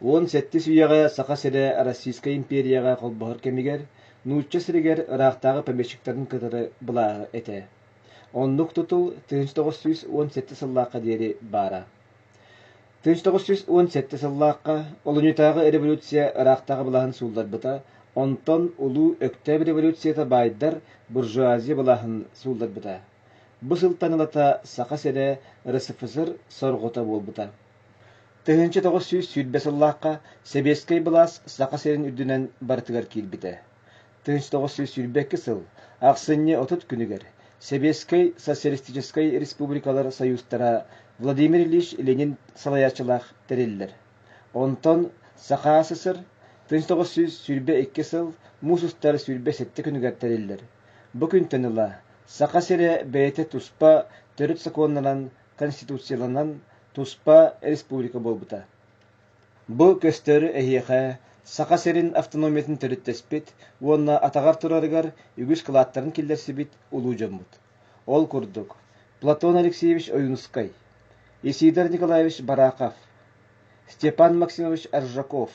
Уон сэттис үйэҕэ Саха сирэ Российскай империяҕа холбоһор кэмигэр нуучча сиригэр ыраахтааҕы помещиктарын кытары былааһы этэ. Оннук тутул тыһыынча тоҕус сүүс уон сэттэ сыллаахха диэри баара. тыһыынча тоҕус сүүс уон сэттэ сыллаахха олунньутааҕы революция ыраахтааҕы былааһын суулларбыта, онтон Улуу Өктөөп революцията баайдар буржуазия былааһын суулларбыта. Бу сылтан ылата Саха сирэ РСФСР сорҕута буолбута. Тыһыынча тоҕус сүүс сүүрбэ сыллаахха сэбиэскэй былаас Саха сирин үрдүнэн барытыгар киирбитэ. Тыһыынча тоҕус сүүс сүүрбэ икки сыл ахсынньы отут күнүгэр Сэбиэскэй Социалистическай Республикалар Союзтара Владимир Ильич Ленин салайааччылаах тэриллэр. Онтон Саха СССР тыһыынча тоҕус сүүс сүүрбэ икки сыл муус устар сүүрбэ сэттэ күнүгэр тэриллэр. Бу күнтэн ыла Саха сирэ бэйэтэ туспа төрүт сокуоннанан конституцияланан туспа республика буолбута. Бу көстөрү эһиэхэ Саха сирин автономиятын төрүттэспит уонна атаҕар турарыгар үгүс кылааттарын киллэрсибит улуу дьоммут. Ол курдук, Платон Алексеевич Ойунускай, Исидар Николаевич Барахов, Степан Максимович Аржаков,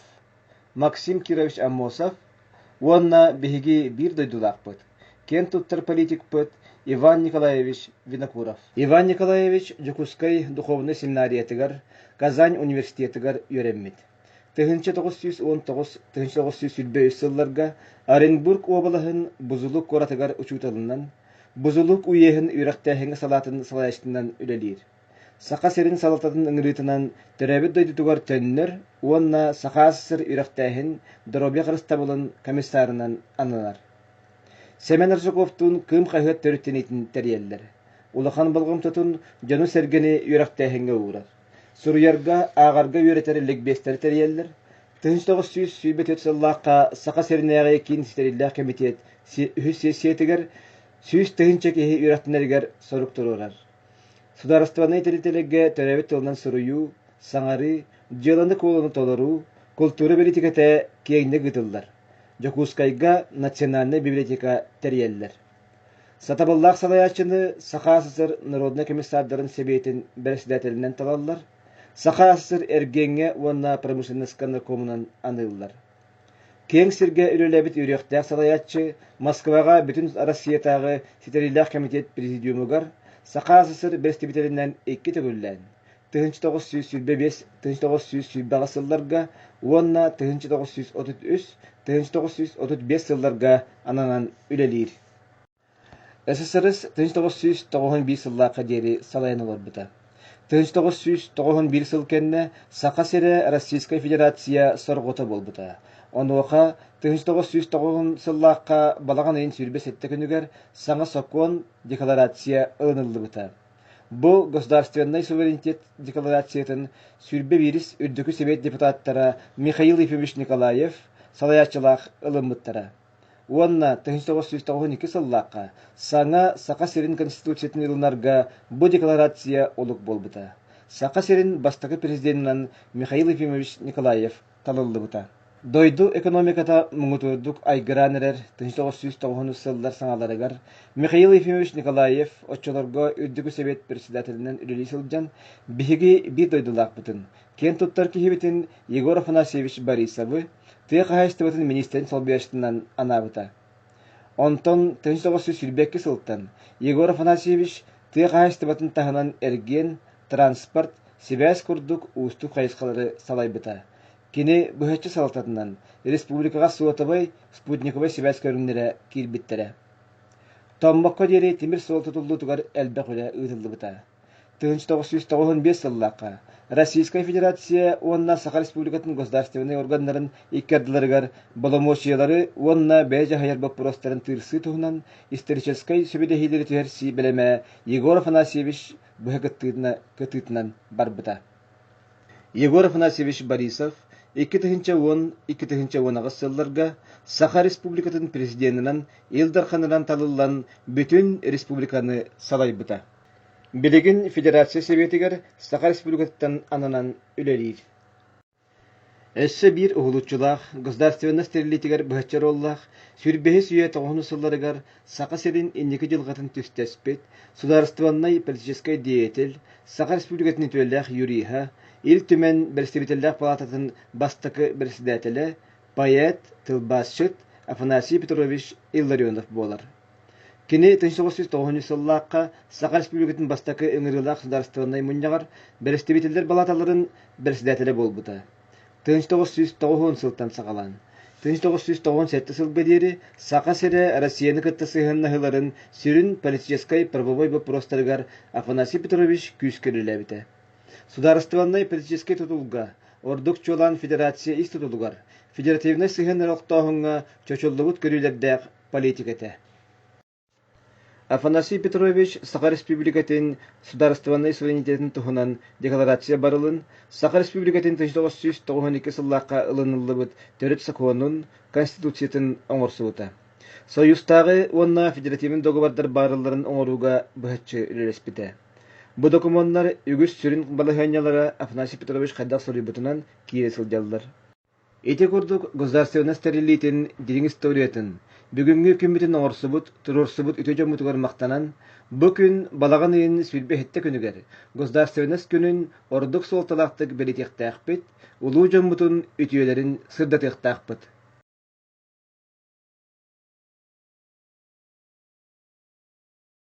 Максим Кирович Аммосов уонна биһиги биир дойдулаахпыт, киэн туттар политикпыт Иван Николаевич Винокуров. Иван Николаевич Дьокуускай духуобунай семинариятыгар, Казань университетыгар үөрэммит. 1999-1991 сылларга Оренбург уобалаһын Бузулук куоратыгар учууталынан, Бузулук уеһын үөрэхтээһиҥҥэ салаатын салайаачытынан үлэлиир. Саха сирин салалтатын ыҥырыытынан төрөөбүт дойдутугар төннөр уонна Сахаас сир үрэхтээһин доруобуйа харыстабылын комиссарынан ананар. Семен Арсуковтуун Кыым хаһыат төрүттэниитин тэрийэллэр. Улахан болҕомтотун дьону-сэргэни үөрэхтээһиҥҥэ уурар. Суруйарга, ааҕарга үөрэтэр ликбиэстэри тэрийэллэр. Тыһыынча тоҕус сүүс сүүрбэ төрт сыллаахха Саха сиринээҕи киин ситэриллээх кэмитиэт үһүс сессиятыгар сүүс тыһыынча киһи үөрэхтэнэригэр сорук туруорар. Судаарыстыбаннай тэрилтэлэргэ төрөөбүт тылынан суруйуу, саҥарыы, дьыаланы-куолуну толоруу, култуура бэлиитикэтэ киэҥник ыытыллар. Дьокуускайга национальнай библиотека тэрийэллэр. Сатабыллаах салайааччыны Саха СССР народнай комиссардарын сэбиэтин бэрэссэдээтэлинэн талаллар, Саха СССР эргиэҥҥэ уонна промышленноска наркомунан аныыллар. киэҥ сиргэ үлэлээбит үөрүөхтээх салайааччы, Москваҕа Бүтүн Арассыыйатааҕы ситэриилээх кэмитиэт президиумугар Саха СССР бэрэстэбиитэлинэн икки төгүллээн тыһыынча тоҕус сүүс сүүрбэ биэс тыһыынча тоҕус сүүс сүүрбэҕэ сылларга уонна тыһыынча тоҕус сүүс отут үс тыһыынча тоҕус сүүс отут биэс сылларга ананан үлэлиир ССРС тыһыынча тоҕус сүүс тоҕус биир сыллаахха диэри салайан олорбута. тыһыынча тоҕус сүүс тоҕус биир сыл кэннэ Саха сирэ Российскай Федерация сорҕото буолбута. Онуоха тыһыынча тоҕус сүүс тоҕус сыллаахха балаҕан ыйын сүүрбэ сэттэ күнүгэр саҥа сокуон декларация ылыныллыбыта. Бу государственнай суверенитет декларациятын сүүрбэ биирис Үрдүкү Сэбиэт депутаттара Михаил Ефимович Николаев салайааччылаах ылыммыттара. уонна тыһыынча тоҕус сүүс тоҕуһун икки сыллаахха саҥа Саха сирин Конституциятын ылынарга бу декларация олук буолбута. Саха сирин бастакы президенинэн Михаил Ефимович Николаев талыллыбыта. Дойду экономиката муҥутуурдук айгыраан эрэр тыһыынча тоҕус сүүс тоҕуһун сыллар саҥаларыгар Михаил Ефимович Николаев оччолорго Үрдүкү Сэбиэт председателинэн үлэлии сылдьан биһиги биир дойдулаахпытын, киэн туттар киһибитин Егор Афанасьевич Борисовы тыа хаһаайыстыбатын миниистирин солбуйааччытынан анаабыта. Онтон төһө соҕустук сүүрбэкки сылтан Егор Афанасьевич тыа хаһаайыстыбатын таһынан эргиэн, транспорт, сибээс курдук уустук хайысхалары салайбыта. Кини быһаччы салалтатынан республикаҕа суотабай, спутниковай сибээс көрүҥнэрэ киирбиттэрэ. Томмокко диэри тимир суол тутуллуутугар элбэх үлэ ыытыллыбыта. Тыһыынча тоҕус сүүс тоҕуһун биэс сыллаахха Российскай Федерация уонна Саха Республикатын государственнай органнарын икки ардыларыгар боломуочуйалары уонна бэйэ дьаһайар боппуруостарын тыырсыы туһунан историческай сөбүлэһиилэри түһэрсии бэлэмэ Егор Афанасьевич быһа кытыытынан барбыта. Егор Афанасьевич Борисов икки тыһыынча уон икки тыһыынча уон аҕыс сылларга Саха Республикатын президенинэн Ил Дарханынан талыллан бүтүн республиканы салайбыта. Билигин федерация сэбиэтигэр Саха Республикатыттан ананан үлэлиир. Өссө биир уһулуччулаах, государственность тэриллиитигэр быһаччы роллаах сүүр бэһис үйэ тоҕуһунус сылларыгар Саха сирин инники дьылҕатын түстэспит, судаарыстыбаннай политическай деятель, Саха Республикатын үтүөлээх юриһа, Ил Түмэн Бэрэстэбиитэллээх палаататын бастакы бэрэссэдээтэлэ, поэт, тылбаасчыт Афанасий Петрович Илларионов буолар. Кини тыһы соҕус сүүс тоҕуһунньу сыллаахха Саха Республикатын бастакы ыҥырыылаах судаарыстыбаннай мунньаҕар бэрэстэбиитэллэр балааталарын бэрэссэдээтэлэ буолбута. Тыһыынча тоҕус сүүс тоҕуһун сылтан саҕалаан тыһыынча тоҕус сүүс тоҕуон сэттэ сылга диэри Саха сирэ Россияны кытта сыһыаннаһыыларын сүрүн политическай-правовой боппуруостарыгар Афанасий Петрович күүскэ үлэлээбитэ. Судаарыстыбаннай политическай тутулга, ордук чуолаан Федерация ис тутулугар, федеративнай сыһыаннар олохтооһуҥҥа чочуллубут көрүүлэрдээх политикэтэ Афанасий Петрович Саха Республикатын судаарыстыбаннай суверенитетин туһунан декларация барылын Саха Республикатын тысяча тоҕус сүүс тоҕуһун икки сыллаахха ылыныллыбыт төрүт сокуонун Конституциятын оҥорсубута. Союзтааҕы уонна федеративный договордар баарылларын оҥорууга быһаччы үлэлэспитэ. Бу докумуоннар үгүс сүрүн балаһыанньалара Афанасий Петрович хайдах суруйбутунан киирэ сылдьаллар. Ити курдук государственнай тэриллиитин дириҥ историятын, бүгүҥҥү күммүтүн оҥорсубут, туруорсубут үтүө дьоммутугар махтанан, бу күн балаҕан ыйын сүүрбэһиттэ күнүгэр Государственнас күнүн ордук суолталаахтык бэлитиэхтээхпит, улуу дьоммутун үтүөлэрин сырдатыахтаахпыт.